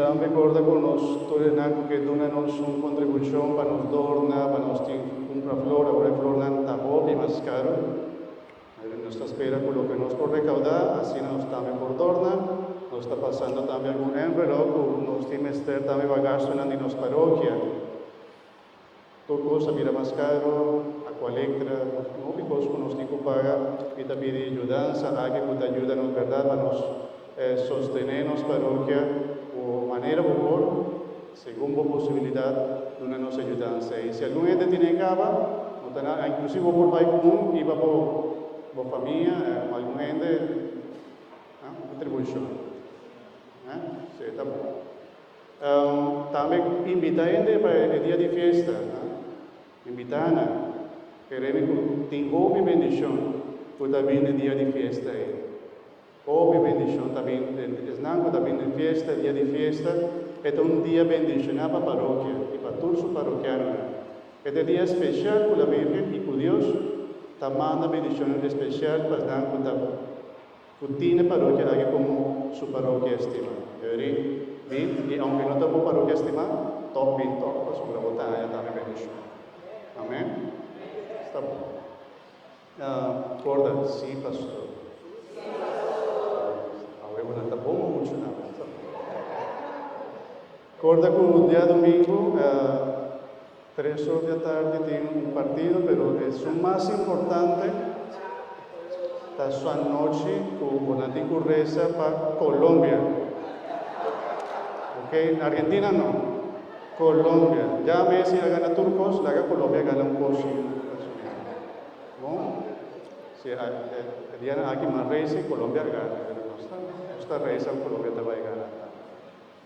Tambe corda cu nos tur enan cu ke duna nos un contribucion pa nos dorna, pa nos tin cumpra flor, awor e flornan ta hopi mas caro. Pero nos ta spera cu loke nos por recauda, asina nos tambe por dorna. Nos ta pasando tambe algun envelop cu nos tin mester tambe pa gastonan di nos parokia. Tur cos a bira mas caro, a cua lectra, y hopi cos cu nos tin cu paga. Mi ta pidi yudansa aki cu ta yuda nos berdad pa nos sostene nos parokia cu manera bo por, segun bo posibilidad, duna nos e yudansa ey. Si algun hende tin ey caba, no ta nada, inclusive bo por bay cu un iba bo bo famia o algun hende, un contribucion, si ey ta bon. Tambe imbitá hende pa e dia di fiesta. Imbitá nan. E remi ku tin hopi bendishon ku ta bin den dia di fiesta ei. Hopi bendishon ta bin den esnan ku ta bin den fiesta, dia di fiesta. E ta un dia bendishoná pa parokia i pa tur su parokianonan. E ta e dia spesial ku la Virgen i ku Dios ta manda bendishonnan espesial pa esnan ku ta. Cu tine parokia aki como su parokia estima. E weri? Bin, y aunke no ta bo parokia estima, tok bin tok, pasobra bo ta haña tambe bendicion. Amen? Sta bon. Corda, Sí, Pastor. Awe bo nan ta bon mucho, nan. Sta bon. Corda cu diadomingo tres or di atardi tin un partido, pero e su mas importante ta su anochi cu bonan tin cu reza pa Colombia, ok, Argentina no, Colombia, ya Messi a gana tur cos, laga Colombia gana un cos si no si e dianan aki mas reza y Colombia a gana, pero nos ta reza cu Colombia ta bay gana.